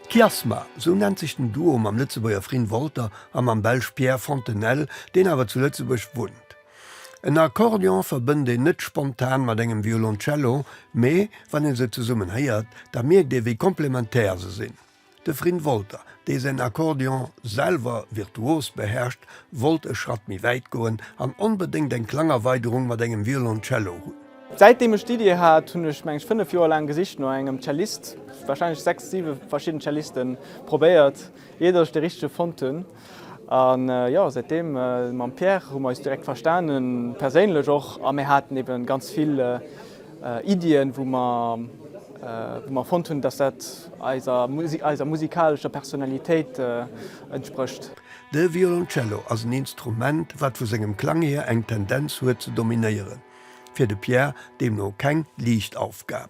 Kiasma, sou nennt sech den Duo mam Lëtzebuerger Frin Wolter a mam Belsch Pierre Fontenelle, deen awer zu Lëtzebuerg wunnt. En Akkordeon verbënnt een net spontan mat engem Violoncello, mee wann ee se zesummen héiert, da mierkt ee wéi komplementär se sinn. De Frin Wolter, dee säin Akkordeon selwer virtuos beherrscht, wollt e Schratt méi wäit goen an onbedéngt eng Klangerweiderung mat engem Violoncello hunn. Säitdeem ech d'Iddi hat, hunn ech, mengen ech, fënnef Joer laang gesicht no engem Cellist, warscheinlech sechs, siwe verschidden Cellisten probéiert, iert ech de richtege fonnt hunn. A jo, säit deem, mam Pierre hu mer eis direkt verstanen, perséinlech och, a mir haten eben ganz vill Iddien, wou mer, wou mer fonnt hunn, dass dat eiser, eiser musikalescher Personalitéit entsprécht. De Violoncello ass en Instrument, wat vu sengem Klang hier eng Tendenz huet ze dominéieren, fir de Pierre deemno keng liicht Aufgab.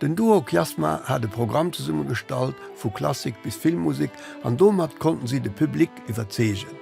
Den Duo Kiasma hat e Programm zesumme gestallt, vu Klassik bis Filmmusek an domat konnten si de Public iwwerzeegen.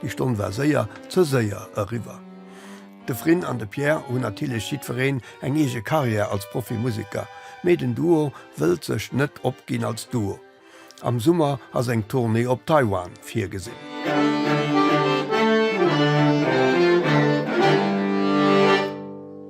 Déi Stonn war séier ze séier eriwwer. De Frin an de Pierre hunn natierlech jiddwereen eng eege Karriär als Profimuseker, mee den Duo wëllt sech net opginn als Duo. Am Summer ass eng Tournée op Taiwan virgesinn.